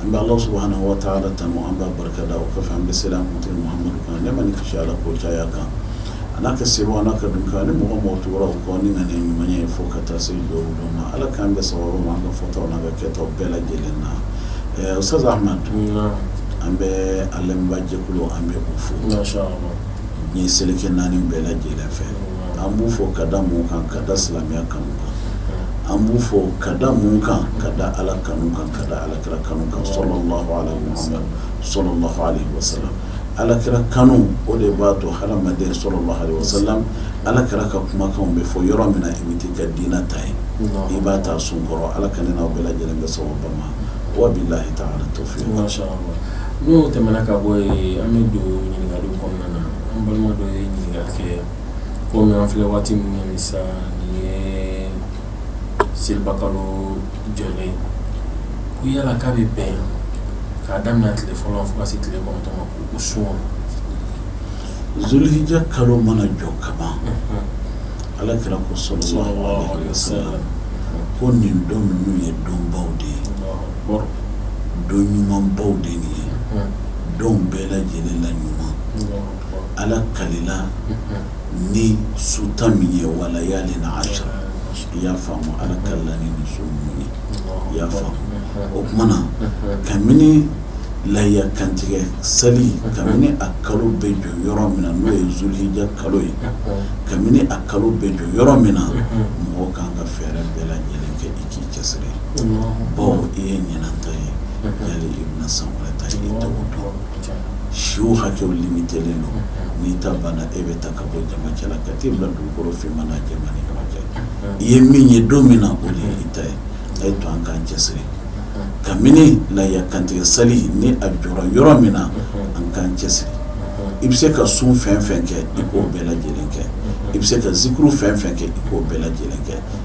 an bɛ ala subuhana wa taala tanu an b'a barika da o kɔfɛ an bɛ seli an kuntigi mamadu kan nɛɛma ni kisi ala k'o caya a kan a n'a ka sahabaw a n'a ka dun kan ni mɔgɔ mɔgɔ tora u kɔ ni ŋaniya ɲuman ye fo ka taa se jɔ don ma ala k'an bɛn sawabu ma an ka fɔta n'an ka kɛta bɛɛ lajɛlen na ɛɛ usutazi an bɛ an lamɛnbaa jɛkulu an bɛ u fo diɲɛ seleke naani bɛɛ lajɛlen fɛ an b'u fo ka da mun kan ka da silamɛya kanu kan an b'u fo ka da mun kan ka da ala kanu kan ka da alakira kanu kan sɔlɔlaahu aleyihi wa salama alakira kanu o de b'a to hadamaden sɔlɔlaahu aleyihi wa salama ala kira ka kumakanw bɛ fɔ yɔrɔ min na i bɛ t'i ka diinɛ ta yen i b'a ta sun kɔrɔ ala k'an n'aw bɛɛ lajɛlen bɛn sawabu ma wabilayi taala tawufiki N'o tɛmɛna ka bɔ yen an bɛ don ɲininkaliw kɔnɔna na an balima dɔ ye ɲininkali kɛ komi an filɛ waati min na sisan nin ye selibakalo jɔlen ye ko yala k'a bɛ bɛn k'a daminɛ tile fɔlɔ fo ka se tile kɔnɔntɔn ma k'o sun wa zulhijja kalo mana jɔ ka ban Ala kira ko sɔlɔlaahu aleyihi wa salama ko nin don ninnu ye donbaw de ye. don ɲumanbaw de nin ye don bɛɛ lajɛlen la ɲuman ala kalila ni su tan min ye wa layalin ashiri i y'a faamu ala kalila ni su minnu ye i y'a faamu o tuma na kabini laya kantigɛ seli kabini a kalo bɛ jɔ yɔrɔ min na n'o ye zulija kalo ye kabini a kalo bɛ jɔ yɔrɔ min na mɔgɔ ka kan ka fɛɛrɛ bɛɛ lajɛlen kɛ i k'i cɛsiri bawo i ye ɲinanta ye yali i bɛna san wɛrɛ ta i tɛ o dɔn siw hakɛw limitelen don n'i ta banna e bɛ ta ka bɔ jama cɛla ka t'i bila dugukolo finman ni jɛman ni ɲɔgɔn cɛ i ye min ye don min na o de ye i ta ye a ye to an k'an cɛsiri kabini laya kantigɛ sali ni a jɔra yɔrɔ min na an k'an cɛsiri i bɛ se ka sun fɛn fɛn kɛ i k'o bɛɛ lajɛlen kɛ i bɛ se ka zikuru fɛn fɛn kɛ i k'o bɛɛ lajɛlen kɛ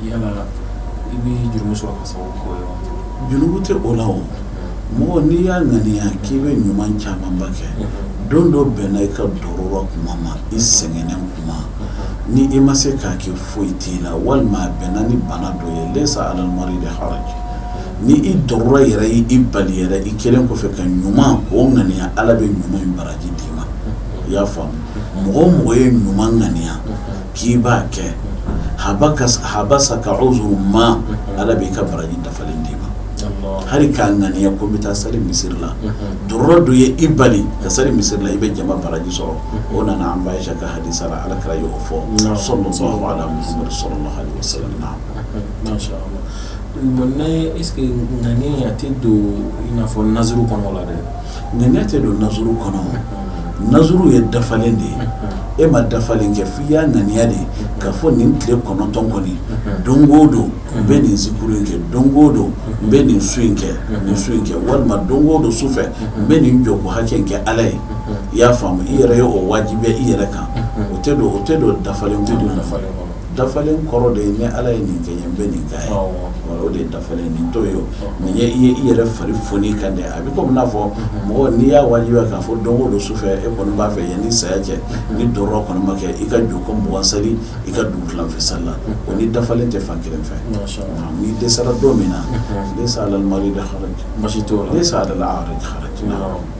yala i bɛ jurumu sɔrɔ ka sababu k'o ye wa? Jurumu tɛ o la o, mɔgɔ n'i y'a ŋaniya k'i bɛ ɲuman camanba kɛ, don dɔ bɛnna i ka dorura tuma ma, i sɛgɛnnen tuma, ni i ma se k'a kɛ foyi t'i la walima a bɛnna ni bana dɔ ye leyisa alal maridi haraji ni i dorura yɛrɛ ye i bali yɛrɛ i kɛlen kɔfɛ ka ɲuman o ŋaniya Ala bɛ ɲuman in baraji d'i ma, i y'a faamu, mɔgɔ o mɔgɔ ye ɲuman ŋaniya K'i b'a kɛ habasa ka o ma ala b'i ka baraji dafalen d'i ma hali k'a ŋaniya ko n bɛ taa sali misisiriri la do don ye i bali ka sari misiri la i bɛ jama baraji sɔrɔ o nana an ba ye ka hadi sara ala kɛra yɔrɔ fɔ so ala sɔrɔ la bɔn ne e ŋ a tɛ don i n'a fɔ naz kɔnɔ la dɛ Ŋaniya tɛ don nazuru kɔnɔ nazuru ye dafalen de ye e ma dafalen kɛ f'i y'a ŋaniya de k'a fɔ nin tile kɔnɔntɔn kɔni don o don n bɛ nin zikuru in kɛ don o don n bɛ nin sun in nin sun in kɛ walima don o don su fɛ n bɛ nin jɔko hakɛ in kɛ ala ye i y'a faamu i yɛrɛ ye o wajibiya i yɛrɛ kan o o tɛ don dafalen kɔnɔ dafalen kɔrɔ de ye ni ala ye nin kɛ n ye n bɛ nin k'a ye o de ye dafalen nin to ye nin ye i yɛrɛ fari foni kan dɛ a bɛ komi n'a fɔ mɔgɔ n'i y'a wajibiya k'a fɔ don o don su fɛ e kɔni b'a fɛ yanni saya cɛ ni darura kɔni ma kɛ i ka jɔko mugan sali i ka dugu tilan fɛ sali la o ni dafalen tɛ fan kelen fɛ n'i dɛsɛra don min na laysa alal maridi haraj laysa alal a'raj haraj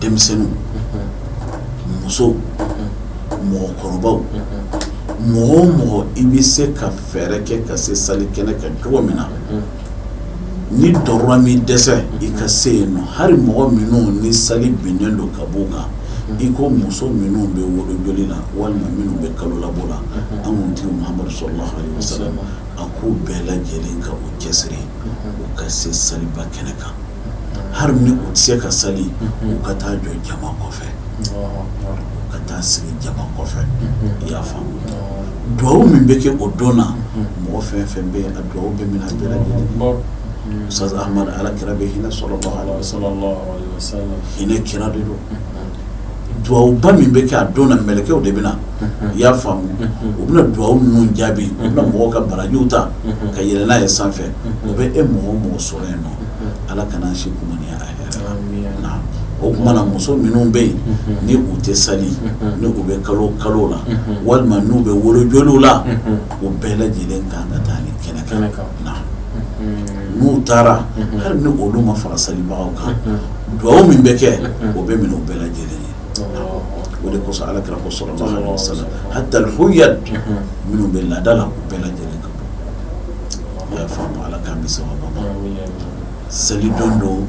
denmisɛnninw musow mɔgɔkɔrɔbaw mɔgɔ o mɔgɔ i bɛ se ka fɛɛrɛ kɛ ka se sali kɛnɛ kan cogo min na ni darura m'i dɛsɛ i ka se yen nɔ hali mɔgɔ minnu ni sali binnen don ka bɔ u kan i ko muso minnu bɛ wolo joli la walima minnu bɛ kalo labɔ la an kuntigi Muhamadu sallallahu alaihi wasallam a k'u bɛɛ lajɛlen ka u cɛsiri u ka se saliba kɛnɛ kan hali ni u tɛ se ka seli u ka taa jɔ jama kɔfɛ ka taa sigi jama kɔfɛ i y'a faamu dugawu min bɛ kɛ o don na mɔgɔ fɛn fɛn bɛ yen dugawu bɛ minɛ bɛɛ lajɛlen Ustaz Ahmad ala kira bɛ hinɛ sallallahu alaihi wasallam hinɛ kira de don dugawuba min bɛ kɛ a don na mɛlɛkɛw de bɛ na i y'a faamu u bɛna dugawu ninnu jaabi u bɛna mɔgɔw ka barajiw ta ka yɛlɛ n'a ye sanfɛ u bɛ e mɔgɔ o mɔgɔ sɔrɔ yen nɔ ala kan'an si kumaniya a hɛrɛ la o kuma na muso minnu bɛ yen ni u tɛ sali ni u bɛ kalo kalo la walima n'u bɛ wolo joliw la u bɛɛ lajɛlen kan ka taa nin kɛnɛ kan n'u taara hali ni olu ma fara salibagaw kan dugawu min bɛ kɛ o bɛ minɛ u bɛɛ lajɛlen ye o de kosɔn ala kira ko sallallahu alaihi wasallam hatta al-huyyad minnu bɛ laada la u bɛɛ lajɛlen ka i y'a faamu Ala k'an bɛn sawaba ma, amin amin, seli don don,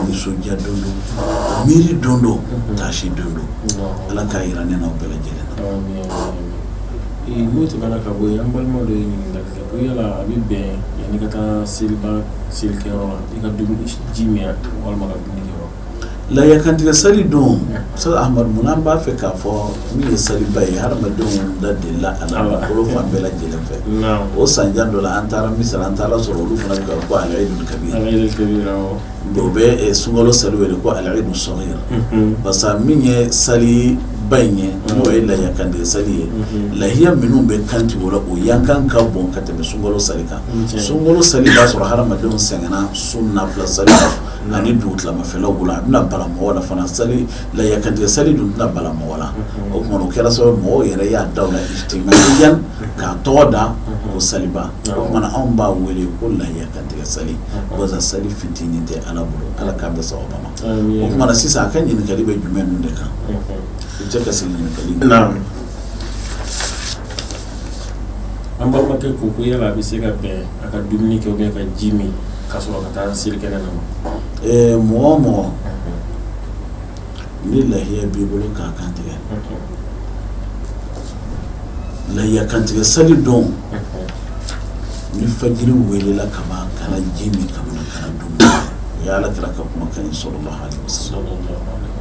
nisɔndiya don don, miiri don don, taasi don don, naamu. Ala k'a jira ne n'aw bɛɛ lajɛlen na. Amin, amin, amin. Ee, n'o tɛmɛna ka bɔ yen an balima dɔ ye ɲininkali kɛ ko yala a bɛ bɛn yanni i ka taa seliba selikɛyɔrɔ la i ka dumuni ji min walima ka dumuni kɛ wa Lahiya kantigɛ sali don Ustaz amadu munna an b'a fɛ k'a fɔ min ye saliba ye hadamadenw da delila a la fan bɛɛ lajɛlen fɛ o san jan dɔ la an taara Misira an taara sɔrɔ olu fana bɛ ko al-Eidul Kabir o bɛ sunkalo sali wele ko al-Eidul Saghir parce que min ye sali ba in ye n'o ye lahiya kantigɛ sali ye lahiya minnu bɛ kantigɛ o la o yan kan ka bon ka tɛmɛ sunkalo sali kan sunkalo sali y'a sɔrɔ hadamadenw sɛgɛnna sun nafila sali Ani dugutilamafɛlaw bolo a bɛna bala mɔgɔ la fana sali lahiya kantigɛ sali dun tɛna bala mɔgɔ la o tuma na o kɛra sababu mɔgɔw yɛrɛ y'a da o la ijtimaiyan k'a tɔgɔ da ko saliba o tuma na anw b'a wele ko lahiya kantigɛ sali walasa sali fitinin tɛ ala bolo ala k'an bɛn sawaba ma o tuma na sisan a ka ɲininkali bɛ jumɛn ninnu de kan i bɛ se ka segin ɲininkali an balimakɛ ko ko yala a bɛ se ka bɛn a ka dumuni kɛ ka ji min ka sɔrɔ ka taa seli kɛnɛ na ɛɛ mɔgɔ mɔgɔ ni lahiya b'i bolo k'a kantigɛ lahiya kantigɛ sali don ni fajiri welela ka ban kana ji min kana dumuni o ye ala kira ka kumakan ye sallallahu alaihi wa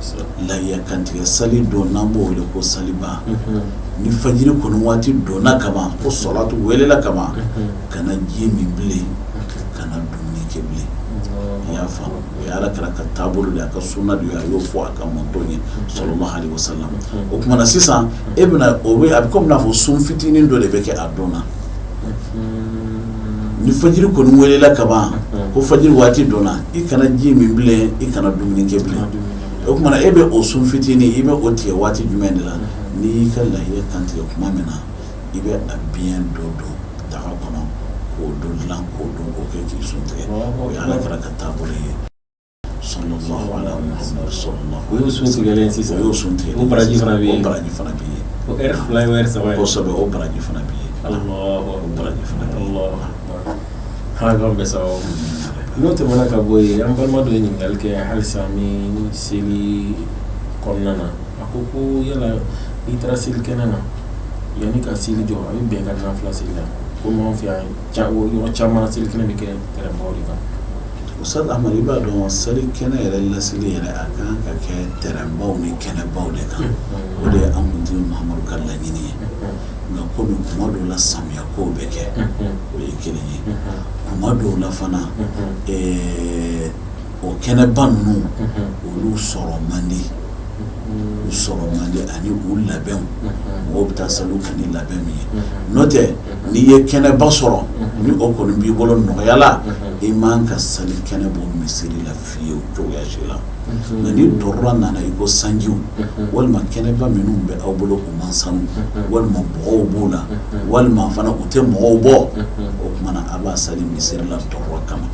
sallam lahiya kantigɛ sali don n'an b'o wele ko saliba ni fajiri kɔni waati donna ka ban ko salatu welela ka ban kana ji min bilen kana dumuni kɛ bilen i y'a faamu o ye ala kira ka taabolo de a ka sunna de ye a y'o fɔ a ka mantɔn ye sallallahu alaihi wa sallam o tuma na sisan e bɛna o a bɛ komi n'a fɔ sun fitinin dɔ de bɛ kɛ a don na ni fajiri kɔni welela ka ban ko fajiri waati donna i kana ji min bilen i kana dumuni kɛ bilen o tuma na e bɛ o sun fitinin i bɛ o tigɛ waati jumɛn de la n'i y'i ka lahiya kantigɛ tuma min na i bɛ a biyɛn dɔ don daga kɔnɔ k'o dɔ dilan k'o dun k'o kɛ k'i sun tigɛ o ye Ala Kira ka taabolo ye sallallahu alaihi wa sallam o y'o sun tigɛlen ye sisan o y'o sun tigɛlen ye o baraji fana bɛ yen o baraji fana bɛ yen o ɛri fila ye o ɛri saba ye kosɛbɛ o baraji fana bɛ yen Alahu o baraji fana bɛ yen Alahu akbar Ala k'an bɛɛ sababu n'o tɛmɛna ka bɔ yen an balima dɔ ye ɲininkali kɛ halisa ni seli kɔnɔna na a ko ko yala i taara seli kɛnɛ na yanni ka seli jɔ a bɛ bɛn ka nafila seli la komi anw fɛ yan yɔrɔ caman na seli kɛnɛ bɛ kɛ tɛrɛnbaw de kan Ustaz amadu i b'a dɔn seli kɛnɛ yɛrɛ laseli yɛrɛ a kan ka kɛ tɛrɛnbaw ni kɛnɛbaw de kan o de ye an kuntigi mahamadu ka laɲini ye nka komi kuma dɔw la samiya kow bɛ kɛ o ye kelen ye kuma dɔw la fana o kɛnɛba ninnu olu sɔrɔ man di u sɔrɔ man di ani u labɛn mɔgɔw bɛ taa sali kɛ ni labɛn min ye n'o tɛ n'i ye kɛnɛba sɔrɔ ni o kɔni b'i bolo nɔgɔya la i man ka sali kɛnɛ bɔ misiri la fiyewu cogoya si la nka ni darura nana i ko sanji walima kɛnɛba minnu bɛ aw bolo u man sanu walima bɔgɔw b'u la walima fana u tɛ mɔgɔw bɔ o tuma na a b'a sali misiri la darura kama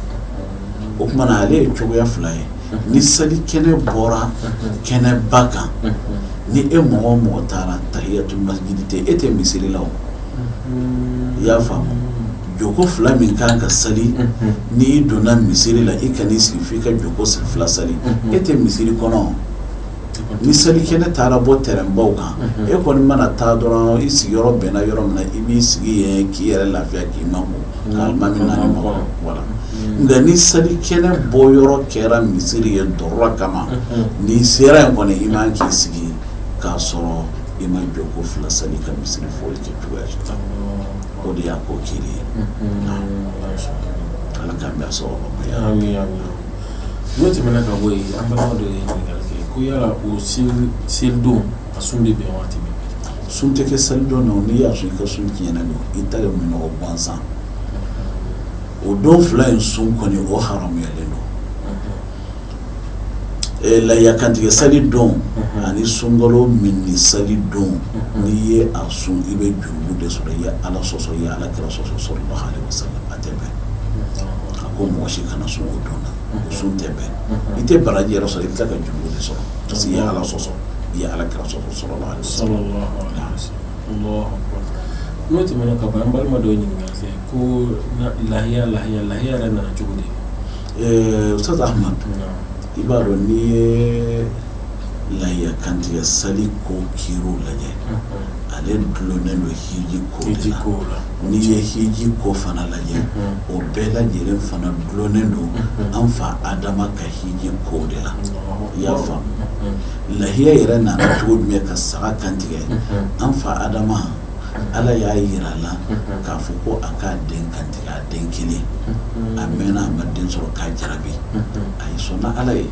o tuma na ale ye cogoya fila ye ni seli kɛnɛ bɔra kɛnɛba kan ni e mɔgɔ o mɔgɔ taara tahiyatul masjid tɛ e tɛ misiri la o i y'a faamu jɔko fila min kan ka seli n'i donna misiri la i kan'i sigi f'i ka jɔko fila seli e tɛ misiri kɔnɔ ni seli kɛnɛ taara bɔ tɛrɛnbaw kan e kɔni mana taa dɔrɔn i sigiyɔrɔ bɛnna yɔrɔ min na i b'i sigi yen k'i yɛrɛ lafiya k'i ma nka ni seli kɛnɛ bɔ yɔrɔ kɛra misisiriri ye darura kama n'i sera yen kɔni i man k'i sigi k'a sɔrɔ i ma jɔko fila seli ka misisiriri foli kɛ cogoya si o de y'a ko kiri ye ala k'an bɛn sababu ma n'o tɛmɛna ka bɔ yen an balima dɔ ye ɲininkali kɛ ko yala o seli don A sun bɛ bɛn waati min sun tɛ kɛ seli don na n'i y'a sun i ka sun tiɲɛnen don i ta ye minɔgɔ gansan o don fila in sun kɔni o haramuyalen don lahiya kantigɛ sali don ani sunkalo minni sali don n'i ye a sun i bɛ jurumu de sɔrɔ i ye ala sɔsɔ i ye ala kira sɔsɔ sallallahu alaihi wasallam a tɛ bɛn a ko mɔgɔ si kana sun o don na sun tɛ bɛn i tɛ baraji yɛrɛ sɔrɔ i bɛ tila ka jurumu de sɔrɔ parce que i ye ala sɔsɔ i ye ala kira sɔsɔ sallallahu alaihi wasallam n'o tɛmɛna ka ban an balima dɔ ye ɲininkali kɛ ko lahiya lahiya lahiya yɛrɛ nana cogo di ustaz ahmad i b'a dɔn n'i ye lahiya kantigɛ sali ko kiri lajɛ ale dulonnen don hiji ko de la n'i ye hiji ko fana lajɛ o bɛɛ lajɛlen fana dulonnen don an fa adama ka Hiji ko de la i y'a faamu lahiya yɛrɛ nana cogo jumɛn ka saga kantigɛ an fa adama ala y'a jira a la k'a fɔ ko a k'a den kantigɛ a den kelen a mɛnna a ma den sɔrɔ k'a jarabi a ye sɔnna ala ye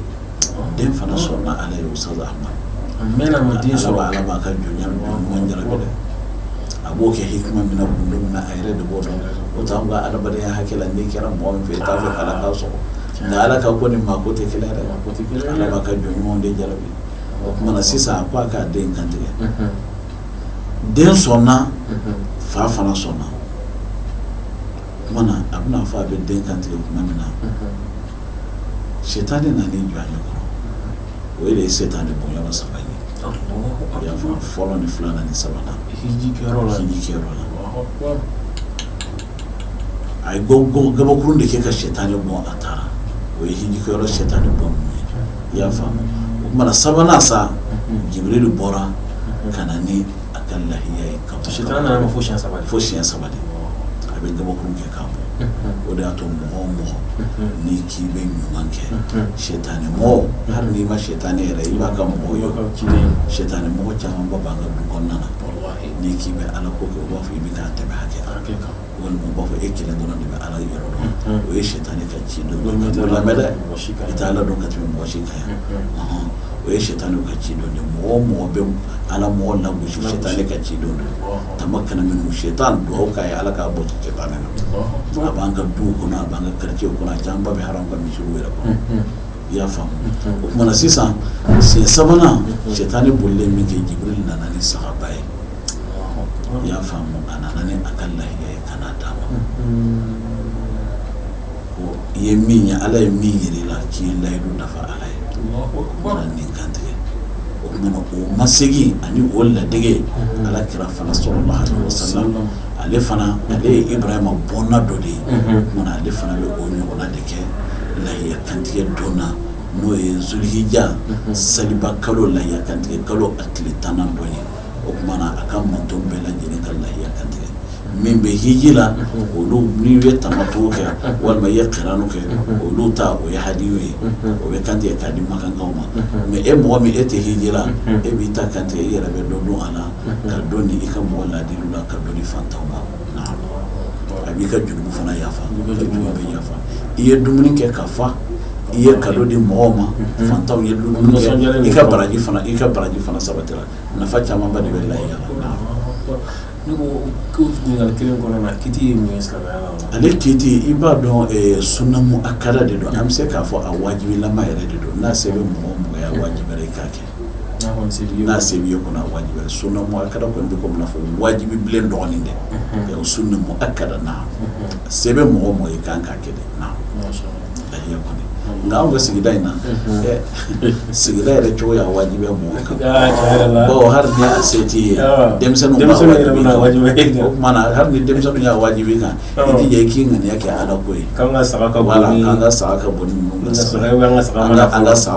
den fana sɔnna ala ye ustaz ahmad a mɛnna a ma den sɔrɔ ala b'a ka jɔn ɲuman jarabi dɛ a b'o kɛ hikima min na kun min na a yɛrɛ de b'o dɔn o t'anw ka adamadenya hakɛ la n'i kɛra mɔgɔ min fɛ i t'a fɛ ala k'a sɔrɔ Nka ala ka ko ni maa ko tɛ kelen ye dɛ ala b'a ka jɔn ɲumanw de jarabi o kuma na sisan a ko a k'a den kantigɛ den sɔnna fa fana sɔnna kuma na a bɛna fɔ a bɛ den kantigɛ tuma min na setani nana i jɔ a ɲɛkɔrɔ o ye de ye setani bonyɔrɔ saba ye y'a fɔlɔ ni filanan ni sabanan la a ye gabakuru de kɛ ka setani bon a taara o ye hiji kɛyɔrɔ setani bon i y'a faamu o kuma na sabanan sa Jibril de bɔra ka na ni a ka lahiya ye ka se fo siɲɛ saba fo siɲɛ saba a bɛ gabakuru kɛ k'a bon o de y'a to mɔgɔ o mɔgɔ n'i k'i bɛ ɲuman kɛ setani mɔgɔ hali n'i ma setani yɛrɛ ye i b'a ka mɔgɔw ye setani mɔgɔ camanba b'an ka du kɔnɔna na n'i k'i bɛ ala ko kɛ u b'a fɔ i bɛ k'a tɛmɛ hakɛ kan walima u b'a fɔ e kelen dɔrɔn de bɛ ala yɔrɔ dɔn o ye setani ka ci don lamɛn dɛ i tɛ ala dɔn ka tɛmɛ mɔgɔ si kan yan o ye setani ka ci don dɛ mɔgɔ o mɔgɔ bɛ ala mɔgɔ lagosi setani ka ci don dɛ tama kana minnu si tan dugawu k'a ye ala k'a bɔ setani na a b'an ka du kɔnɔ a b'an ka kartiye kɔnɔ a camanba bɛ hali an ka misiriw yɛrɛ kɔnɔ i y'a faamu o kuma na sisan siɲɛ sabanan setani bolilen min kɛ Jibril nana ni sagaba ye i y'a faamu a nana ni a ka lahiya ye ka na a d'a ma i ye min ye ala ye min yira i la k'i ye layidu dafa ala ye nin kantigɛ o kuma na o masegin ani o ladege ala kira fana sallallahu alayhi wasallam ale fana ale ye Ibrahima bɔnna dɔ de ye o kuma na ale fana bɛ o ɲɔgɔnna de kɛ lahiya Kantigɛ don na n'o ye Zulhija saliba kalo lahiya kantigɛ kalo a tile tan don ye o kuma na a ka mantonw bɛɛ lajɛlen ka lahiya kantigɛ min bɛ hiji la olu n'i ye tamatu kɛ walima i ye kiranu kɛ olu ta o ye hadiyu ye o bɛ kantigɛ k'a di makakaw ma mɛ e mɔgɔ min e tɛ hiji la e b'i ta kantigɛ e yɛrɛ bɛ dɔ dun a la ka dɔ di i ka mɔgɔ ladi la ka dɔ di fantanw ma a b'i ka jurumu fana yafa bɛɛ yafa i ye dumuni kɛ ka fa i ye kado di mɔgɔw ma fantanw ye i ka baraji i ka baraji fana sabatira nafa camanba de bɛ lahiya la ale kiiti i b'a dɔn sunna mu'akkada de don an bɛ se k'a fɔ a wajibilama yɛrɛ de don n'a se bɛ mɔgɔ o mɔgɔ ye a wajibira i k'a kɛ n'a se b'i ye kɔni a wajibi sunna mu'akkada kɔni bɛ komi i n'a fɔ wajibi bilen dɔgɔnin dɛ, unhun, sunna mu'akkada naamu, se bɛ mɔgɔ o mɔgɔ ye i ka kan k'a kɛ de naamu, masha Allah, lahiya kɔni nka anw ka sigida in na, unhun, ɛ sigida yɛrɛ cogo y'a wajibiya mɔgɔw kan, aa tiɲɛ yɛrɛ la, bawo hali ni a se t'i ye, ɔɔ, denmisɛnninw b'a wajibi i kan, denmisɛnninw yɛrɛ bɛna wajibiya i kan, o tuma na hali ni denmisɛnninw y'a wajibi i kan jija k'i ŋaniya kɛ ala ko ye k'an ka saga ka bon an ka saga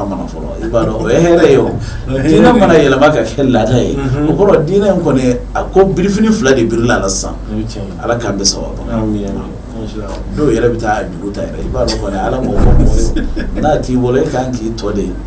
mana fɔlɔ i b'a dɔn o ye hɛrɛ ye o diinɛ mana yɛlɛma ka kɛ laada ye o kɔrɔ diinɛ in kɔni a ko birifini fila de biri la sisan ala k'an bɛ sababu dɔw yɛrɛ bɛ taa juru ta yɛrɛ i b'a dɔn kɔni ala m'o fɔ mɔgɔ ye n'a t'i bolo e k'an k'i tɔ de ye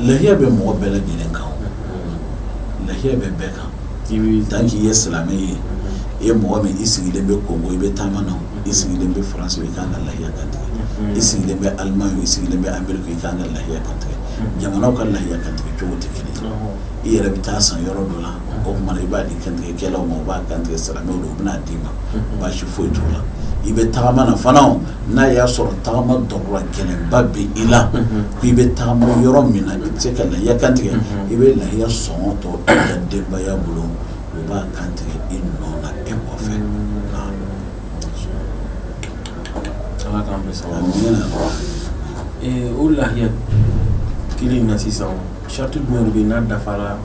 lahiya bɛ mɔgɔ bɛɛ lajɛlen kan lahiya bɛ bɛɛ kan tant que i ye silamɛ ye i ye mɔgɔ min i sigilen bɛ Congo i bɛ taama na i sigilen bɛ France i ka kan ka lahiya kan tigɛ i sigilen bɛ Allemagne i sigilen bɛ Amérique i ka kan ka lahiya kan tigɛ jamanaw ka lahiya kan tigɛ cogo tɛ kelen i yɛrɛ bɛ taa san yɔrɔ dɔ la o kuma na i b'a di kantigɛkɛlaw ma o b'a kantigɛ silamɛw don u bɛn'a d'i ma baasi foyi t'o la i bɛ tagama na fana n'a y'a sɔrɔ tagama dɔgɔ gɛlɛnba bɛ i la I bɛ tagama yɔrɔ min na i tɛ se ka lahiya kantigɛ i bɛ lahiya sɔngɔ to i ka denbaya bolo u b'a kantigɛ i nɔ na e kɔfɛ o lahiya kelen na sisan sariti jumɛn bɛ n'a dafara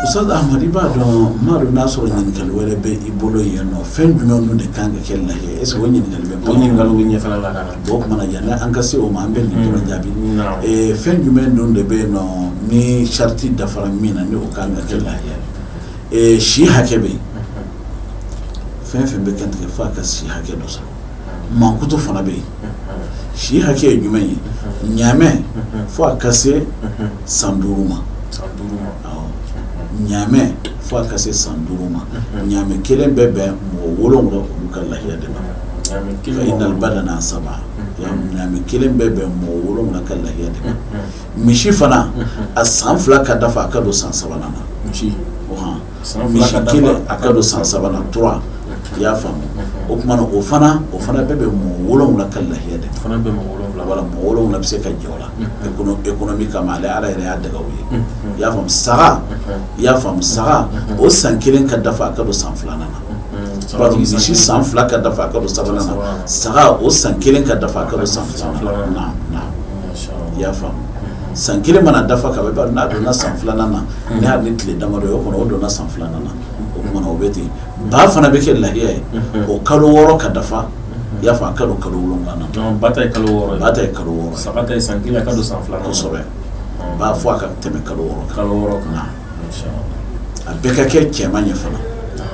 Ustaz Ahmad i b'a dɔn m'a dɔn n'a sɔrɔ ɲininkali wɛrɛ bɛ i bolo yen nɔ fɛn jumɛn ninnu de kan ka kɛ lahiya ye est-ce que o ɲininkali bɛ bɔ o kuma na yanni an ka se o ma an bɛ nin dɔrɔn jaabi fɛn jumɛn ninnu de bɛ yen nɔ ni sariti dafara min na ni o kan ka kɛ lahiya ye si hakɛ bɛ yen fɛn fɛn bɛ kantigɛ fo a ka si hakɛ dɔ sɔrɔ mankutu fana bɛ yen si hakɛ ye jumɛn ye ɲamɛ fo a ka se san duuru ma ɲamɛ fo a ka se san duuru ma ɲamɛ kelen bɛ bɛn mɔgɔ wolonwula olu ka lahiya de ma fa innal badana an saba ɲamɛ kelen bɛ bɛn mɔgɔ wolonwula ka lahiya de ma misi fana a san fila ka dafa a ka don san sabanan na o Misi kelen a ka don san saba la trois i y'a faamu o kuma na o fana o fana bɛ bɛn mɔgɔ wolowula ka lahiya de fana bɛ wala mɔgɔ wolowula bɛ se ka jɛ o la économie kama ale ala yɛrɛ y'a daga u ye i y'a faamu i y'a faamu saga o san kelen ka dafa a ka don san filanan na misi san fila ka dafa a ka don sabanan na saga o san kelen ka dafa a ka don san filanan na i y'a faamumu san kelen mana dafa ka ban n'a donna san filanan na ni hali ni tile damadɔ ye o kɔnɔ o donna san filanan na o kuma na o bɛ ten ba fana bɛ kɛ lahiya ye o kalo wɔɔrɔ ka dafa i y'a fɔ a ka don kalo wolonwula na ba ta ye kalo wɔɔrɔ ba ta ye kalo wɔɔrɔ saga ta ye san kelen ka don san fila kosɛbɛ ba fo a ka tɛmɛ kalo wɔɔrɔ kan a bɛɛ ka kɛ cɛman ye fana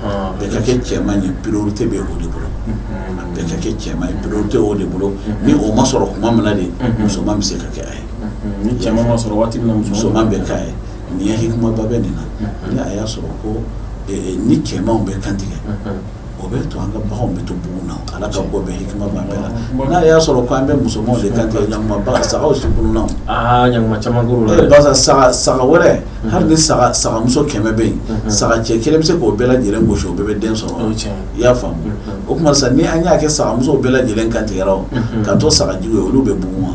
a bɛɛ ka kɛ cɛman ye priorité bɛ o de bolo a bɛɛ ka kɛ cɛman ye priorité o de bolo ni o ma sɔrɔ kuma min na de musoman bɛ se ka kɛ a ye ni cɛman ma sɔrɔ waati min na musoman bɛ kɛ a ye nin ye hikimaba bɛ nin na ni a y'a sɔrɔ ko ni cɛmanw bɛ kantigɛ o bɛ to an ka bagan bɛ to bugun na ala ka ko bɛɛ hikima b'a bɛɛ la n'a y'a sɔrɔ k' an bɛ musoman de kan tigɛ ɲa saga si tununna ɲa saga saga wɛrɛ hali ni sagamuso kɛmɛ bɛ yen saga cɛ kelen bɛ se k'o bɛɛ lajɛlen gosi o bɛɛ bɛ den sɔrɔ i y'a faamu o tuma sa ni an y'a kɛ sagamuso bɛɛ lajɛlen kan tigɛra ka to sagajigi ye olu bɛ bugun wa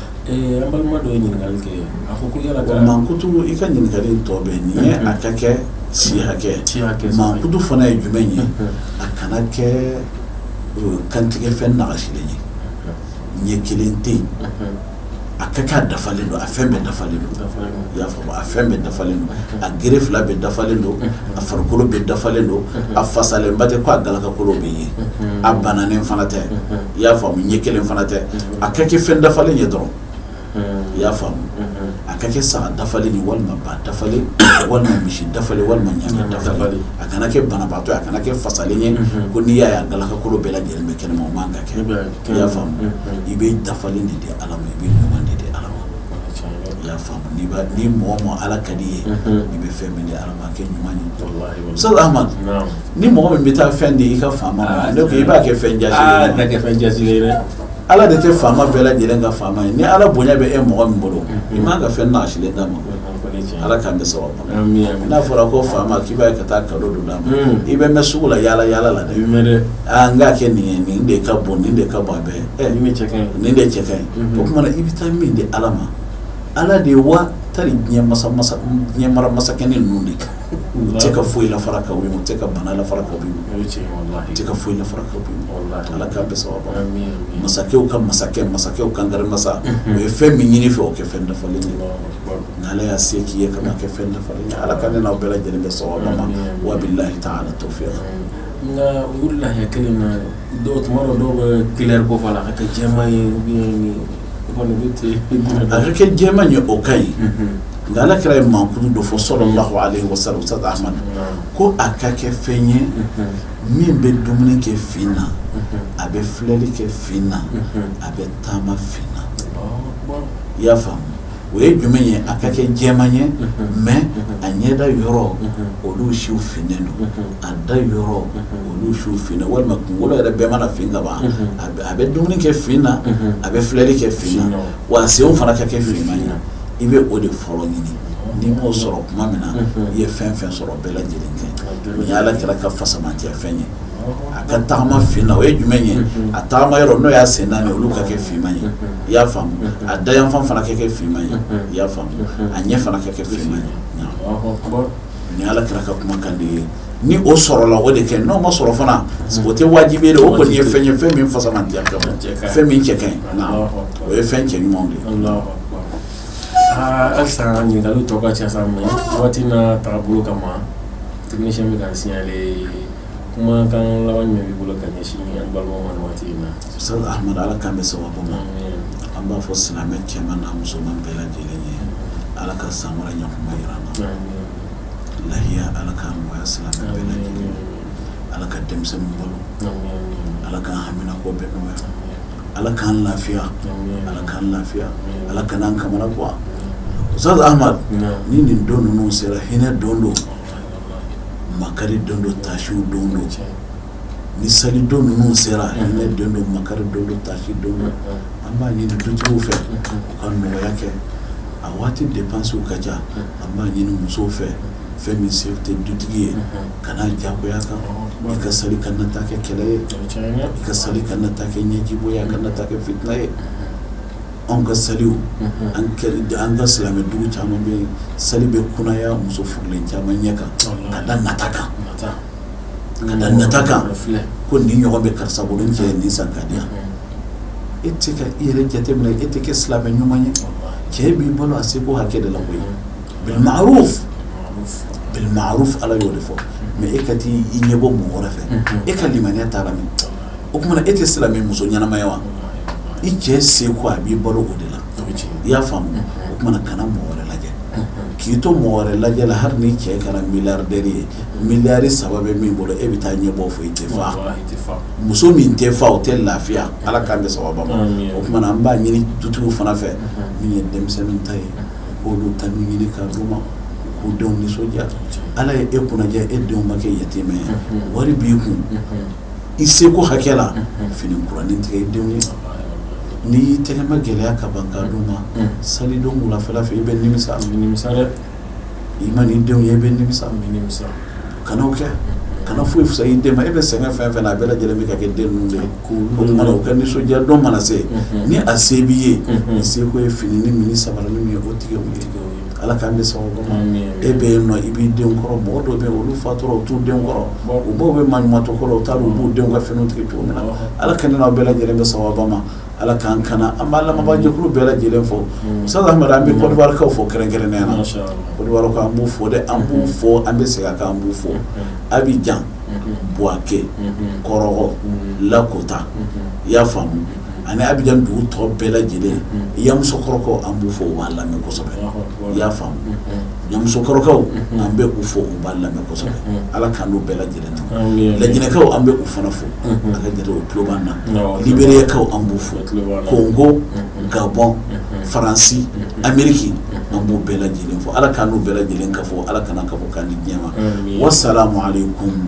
Ɛɛ an balima dɔ ye ɲininkali kɛ a ko ko yala ka mankutu i ka ɲininkali tɔ bɛ nin ye a ka kɛ si hakɛ mankutu fana ye jumɛn ye a kana kɛ kantigɛ fɛn nagasilen ye ɲɛ kelen tɛ yen a ka kɛ a dafalen don a fɛn bɛɛ dafalen don i y'a faamu a fɛn bɛɛ dafalen don a gere fila bɛɛ dafalen don a farikolo bɛɛ dafalen don a fasalenba tɛ ko a galakakolo bɛ ye a bananen fana tɛ i y'a faamu ɲɛ kelen fana tɛ a ka kɛ fɛn dafalen ye dɔrɔn i y'a faamu a ka kɛ saga dafalen ye walima ba dafalen walima misi dafalen walima ɲamɛ dafalen a kana kɛ banabaatɔ a kana kɛ fasalen ye ko n'i y'a ye a galakakolo bɛɛ lajɛlen bɛ kɛnɛma o man ka kɛ i y'a faamu i bɛ dafalen de di ala ma i bɛ ɲuman de di ala ma i y'a faamu ni mɔgɔ min ala ka di i ye i bɛ fɛn min di ala ma a kɛ ɲuman ye Ustaz Ahmad ni mɔgɔ min bɛ taa fɛn di i ka faama ma ne ko i b'a kɛ fɛn jaasilen ye dɛ ala de tɛ faama bɛɛ lajɛlen ka faama ye ni ala bonya bɛ e mɔgɔ min bolo i man ka fɛn nagasilen d'a ma ala k'an bɛn sawaba ma n'a fɔra ko faama k'i b'a ye ka taa kado dɔ d'a ma i bɛ mɛɛn sugu la yaala yaala la dɛ n k'a kɛ nin ye nin de ka bon nin de ka bon bɛɛ nin de cɛ ka ɲi o tuma na i bɛ taa min di ala ma ala de ye wa tari diɲɛ mara masakɛnin ninnu de kan tɛ ka foyi lafara ka bɔ i ma u tɛ ka bana lafara ka bɔ i ma u tɛ ka foyi lafara ka bɔ i ma ala k'an bɛn sawaba ma masakɛw ka masakɛ masakɛw kankari masa o ye fɛn min ɲini i fɛ o kɛ fɛn dafalen ye n'ala y'a se kɛ i ye ka kɛ fɛn dafalen ye ala ka ne n'aw bɛɛ lajɛlen bɛn sawaba ma wa billahi ta'ala tawfiq nka o layiya kelen na dɔw tuma dɔw dɔw bɛ kulɛri ko fɔ la a ka kɛ jɛman ye A ka kɛ jɛman ye o ka ɲi nka ala kira ye mankutu dɔ fɔ sallallahu alaihi wasallam Ustaz Ahmad ko a ka kɛ fɛn ye min bɛ dumuni kɛ fin na a bɛ filɛli kɛ fin na a bɛ taama fin na i y'a faamu o ye jumɛn ye a ka kɛ jɛman ye mɛ a ɲɛda yɔrɔ olu siw finnen don a da yɔrɔ olu siw finnen walima kunkolo yɛrɛ bɛɛ mana fin ka ban a bɛ dumuni kɛ fin na a bɛ filɛli kɛ fin na wa a senw fana ka kɛ finman ye i bɛ o de fɔlɔ ɲini n'i m'o sɔrɔ tuma min na i ye fɛn fɛn sɔrɔ bɛɛ lajɛlen kɛ o y' ala kira ka fisamanciya fɛn ye a ka tagama fin na o ye jumɛn ye a tagama yɔrɔ n'o y'a sen naani olu ka kɛ finman ye i y'a faamu a dayanfan fana ka kɛ finman ye i y'a faamu a ɲɛ fana ka kɛ finman ye nin ala kira ka kumakan de ye ni o sɔrɔla o de kɛ n'o ma sɔrɔ fana o tɛ wajibi ye o kɔni ye fɛn ye fɛn min fisamantiya ka bon fɛn min cɛ ka ɲi o ye fɛn cɛ ɲumanw de ye halisa ɲininkali tɔ ka ca sa mɛ waati n'a tagabolo kama technicien bɛ k'an signaler kumakan laban min b'i bolo ka ɲɛsin an balimaw ma nin waati in na Ustaz Ahmad Ala k'an bɛn sababu ma an b'a fɔ silamɛ cɛman n'a musoman bɛɛ lajɛlen ye Ala ka san wɛrɛ ɲɔgɔnma jira an na lahiya Ala k'a nɔgɔya silamɛ bɛɛ lajɛlen ye Ala ka denmisɛnninw balo Ala k'an haminako bɛɛ nɔgɔya Ala k'an lafiya Ala k'an lafiya Ala kan'an kamanagan Ustaz Ahmad ni nin don ninnu sera hinɛ don don makari don don tasi don don ni sali don ninnu sera hinɛ don don makari don don tasi don don an b'a ɲini dutigiw fɛ u ka nɔgɔya kɛ a waati depansiw ka ca an b'a ɲini musow fɛ fɛn min se tɛ dutigi ye kan'a jagoya kan i ka sali kana taa kɛ kɛlɛ ye i ka sali kana taa kɛ ɲɛjibɔn ye kana taa kɛ fitina ye Anw ka saliw an ka silamɛ dugu caman bɛ sali bɛ kunaya muso furulen caman ɲɛ kan ka da nata kan ka da nata kan ko nin ɲɔgɔn bɛ karisa bolo n cɛ ye nin san k'a di yan e tɛ ka i yɛrɛ jateminɛ e tɛ kɛ silamɛ ɲuman ye cɛ b'i balo a seko hakɛ de la koyi bil ma'ruf bil ma'ruf ala y'o de fɔ mɛ e ka taa i ɲɛbɔ mɔgɔ wɛrɛ fɛ e ka limaniya taara min o kumana e tɛ silamɛ muso ɲɛnama ye wa i cɛ seko a b'i balo o de la i y'a faamu o kumana kana mɔgɔ wɛrɛ lajɛ k'i to mɔgɔ wɛrɛ lajɛ la hali ni cɛ kɛra miliyardɛri ye miliyari saba bɛ min bolo e bɛ taa ɲɛbɔ fɔ i tɛ fa muso min tɛ fa o tɛ lafiya ala k'an bɛn sababu ma o tuma na an b'a ɲini dutigiw fana fɛ min ye denmisɛnnin ta ye k'olu ta nin ɲini k'a d'u ma k'u denw nisɔndiya ala ye e kunnajɛ e denw ma kɛ yatimɛ ye wari b'i kun i seko hakɛ la fini kuranin tigɛ i denw ye n'i y'i tɛgɛma gɛlɛya ka ban k'a d'u ma salidon wulafɛla fɛ i bɛ nimisa i bɛ nimisa dɛ i man'i denw ye i bɛ nimisa i bɛ nimisa kana o kɛ kana foyi fisaya i den ma e bɛ sɛgɛn fɛn fɛn na a bɛɛ lajɛlen bɛ ka kɛ den ninnu de ye o tuma na u ka nisɔndiya don mana se ni a se b'i ye i seko ye fininin min ni sabaranin min ye o tigɛ u ye Ala k'an bɛn sababu ma e bɛ yen i b'i denw kɔrɔ mɔgɔ dɔw bɛ yen olu fatura u t'u denw kɔrɔ u baw bɛ maɲumantɔ kɔrɔ u t'a dɔn u b'u denw ka finiw tigɛ cogo min na ala ka ne n'aw bɛɛ lajɛlen bɛn sababu ma ala k'an kana an b'a lamɛnbaajɛkulu bɛɛ lajɛlen fo sa an bɛ Kɔdiwarikaw fo kɛrɛnkɛrɛnnenya na Kɔdiwarikaw an b'u fo dɛ an b'u fo an bɛ segin a kan an b'u fo Abijan Buwake Kɔrɔgɔ Lakota i y'a faamu ani Abijan dugu tɔ bɛɛ lajɛlen Yamusokɔrɔkaw an b'u fo u b'a lamɛn kosɛbɛ i y'a faamu Yamusokɔrɔkaw an bɛ u fo u b'a lamɛn kosɛbɛ ala k'an n'u bɛɛ lajɛlen na Lajinɛkaw an bɛ u fana fo a ka jate o tulo b'an na Liberiyakaw an b'u fo kongo gabɔn faransi ameriki an b'u bɛɛ lajɛlen fo ala k'an n'u bɛɛ lajɛlen kafo ala kan'an kafo k'an di diɲɛ ma wa salamu alayikum